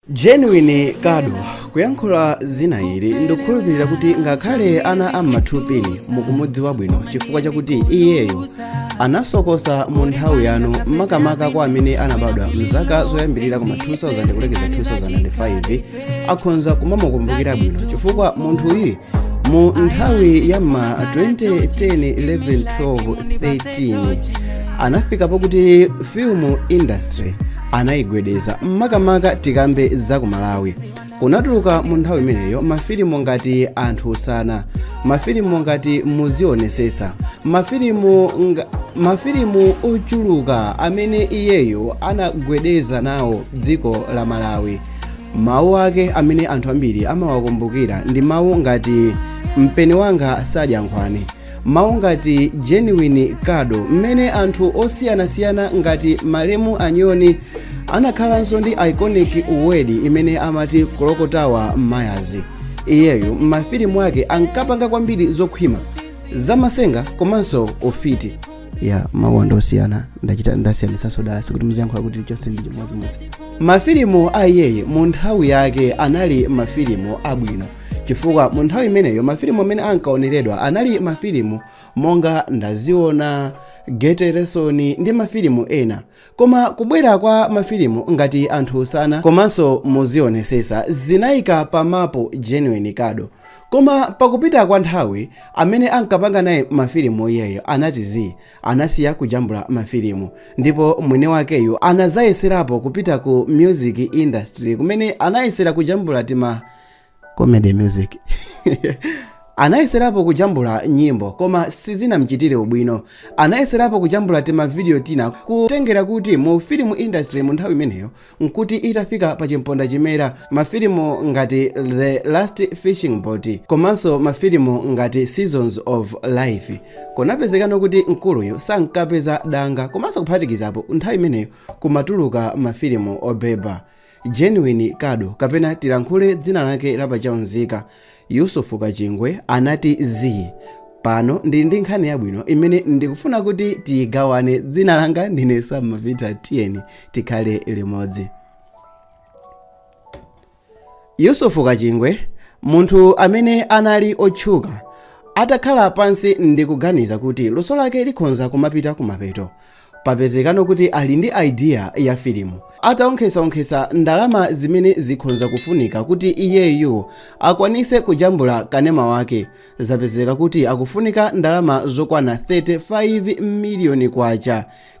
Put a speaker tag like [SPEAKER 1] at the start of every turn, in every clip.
[SPEAKER 1] genuine kado kuyankhula zina ili ndikukhulupirira kuti ngakhale ana am'mathupini mukumudziwa bwino chifukwa chakuti iyeyo anasokosa mu nthawi yanu makamaka kwa amene anabadwa mzaka zoyambirira kuma 2000 kulekeza 2005 akhonza kumamukumbukira bwino chifukwa munthuyu mu nthawi ya ma 2010-11-12-13 anafika pokuti film industry anayigwedeza makamaka tikambe za ku malawi kunatuluka mu nthawi imeneyo mafilimu ngati anthu usana mafilimu ngati muzionesesa mafilimu ochuluka amene iyeyo anagwedeza nawo dziko la malawi Mawu ake amene anthu ambiri amawakumbukira ndi mawu ngati mpeni wanga sadya nkhwani mawu ngati genuine kado mmene anthu osiyanasiyana ngati malemu anyoni anakhalanso ndi iconic word imene amati kulokotawa mayazi iyeyo m'mafilimu ake ankapanga kwambiri zokhwima zamasenga komanso ufiti ya mawuwa ndi osiyana ndachita ndasiyanitsanso dala sikuti muziyankhula kuti chonse ndi chimodzimodzi mafilimu a iyeyi mu nthawi yake anali mafilimu abwino chifukwa mu nthawi imeneyo mafilimu amene ankaoneredwa anali mafilimu monga ndaziona gete lesoni ndi mafilimu ena Koma kubwera kwa mafilimu ngati anthu usana komanso muzionesesa zinaika pa mapu Genuine Kado. Koma pakupita kwa nthawi amene ankapanga naye mafilimu iyeyo anati zii anasiya kujambula mafilimu ndipo mwini wakeyu anazayeserapo kupita ku music industry kumene anayesera kujambula tima comedy music anayeserapo kujambula nyimbo koma sizinamchitire ubwino anayeserapo kujambula tima video tina kutengera kuti mu film industry mu nthawi imeneyo nkuti itafika pa chimponda chimera mafilimu ngati the last fishing boat komanso mafilimu ngati seasons of life kunapezekano kuti mkuluyu sankapeza danga komanso kuphatikizapo nthawi imeneyo kumatuluka mafilimu obeba Genuine Kado kapena tilankhule dzina lake la pa chaunzika Yusufu Kachingwe anati zii pano ndili ndi nkhani yabwino imene ndikufuna kuti tigawane dzina langa ndine Sam Mavita tiyeni tikhale limodzi yusufu kachingwe munthu amene anali otchuka atakhala pansi ndikuganiza kuti luso lake likhonza kumapita kumapeto Papezekano kuti ali ndi idea ya filimu. Ataonkhesa-onkhesa ndalama zimene zikhonza kufunika kuti iyeyu akwanise kujambula kanema wake, zapezeka kuti akufunika ndalama zokwana K35 miliyoni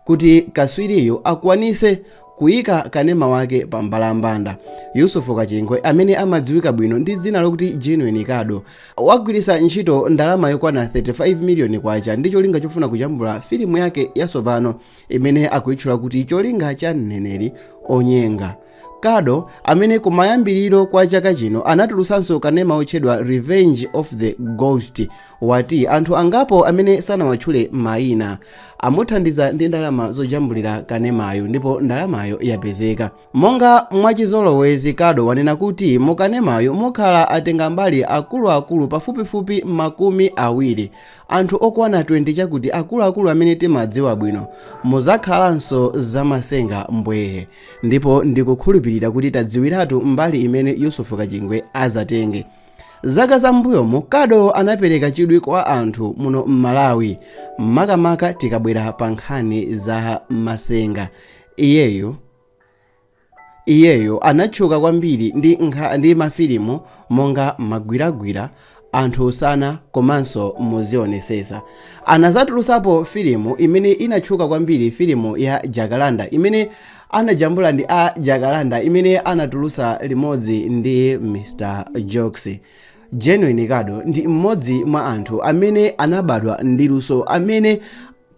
[SPEAKER 1] kuti kaswiriyu akwanise Kuika kanema wake pa mbalambanda, Yusufu Kachingwe amene amadziwika bwino ndi dzina lokuti Genuine Kado, wagwiritsa ntchito ndalama yokwana 35 miliyoni kwacha ndi cholinga chofuna kujambula filimu yake yatsopano imene akuitchula kuti Cholinga cha Mneneri Onyenga. Kado, amene kumayambiriro kwa chaka chino anatulutsanso kanema otchedwa Revenge of the Ghost, wati anthu angapo amene sanawatchule mayina amuthandiza ndi ndalama zojambulira kanemayu ndipo ndalamayo yapezeka monga mwachizolowezi kado wanena kuti mukanemayu mukhala atenga mbali akuluakulu pafupifupi makumi awiri anthu okwana 20 chabe kuti akuluakulu amene timadziwa bwino muzakhalanso zamasenga mbwee ndipo ndikukhulupirira kuti tadziwiratu mbali imene yusufu kachingwe azatenge Zaka zambuyomu, Kado anapereka chidwi kwa anthu muno m'Malawi, makamaka tikabwera pa nkhani za masenga. Iyeyo anatchuka kwambiri ndi mafilimu monga magwiragwira anthu usana komanso muzionesesa anazatulusapo filimu imene inatchuka kwambiri filimu ya jakalanda imene anajambula ndi a jakalanda imene anatulusa limodzi ndi mr jokes genuine kado ndi mmodzi mwa anthu amene anabadwa ndi luso amene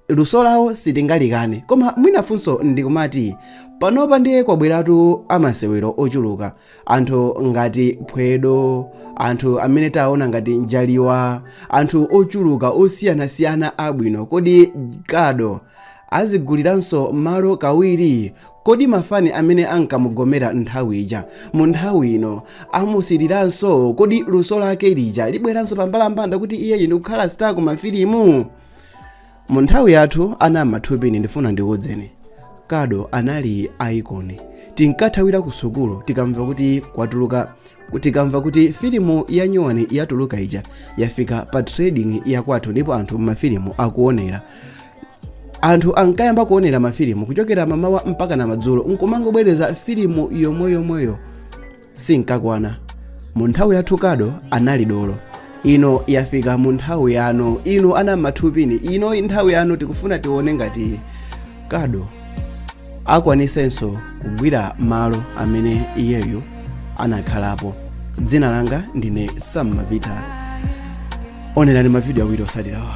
[SPEAKER 1] luso lawo sitingalikane koma mwina funso ndi kumati panopa ndiye kwabweratu amasewero ochuluka anthu ngati phwedo anthu amene taona ngati njaliwa anthu ochuluka osiyanasiyana abwino kodi kado aziguliranso malo kawiri kodi mafani amene ankamugomera nthawi ija mu nthawi ino amusiriranso kodi luso lake lija libweranso pambalambanda kuti iyeyu ndikukhala star ku mafilimu mu nthawi yathu ana ama two pin ndifuna ndikuwuzeni kado anali icon tinkathawira ku sukulu tikamva kuti kwatuluka tikamva kuti filimu ya nyuwani yatuluka ija yafika pa trading yakwathu ndipo anthu mafilimu akuonera anthu ankayamba kuonera mafilimu kuchokera mamawa mpakana madzulo nkumangobwereza filimu yomweyomweyo sinkakwana mu nthawi yathu kado anali dolo ino yafika mu nthawi yanu inu ana ama two pin ino ndi nthawi yanu tikufuna tione ngati kado akwanisenso kugwira malo amene iyeyo anakhalapo dzina langa ndine sam mapita onerani mavidiyo awiri osatirawa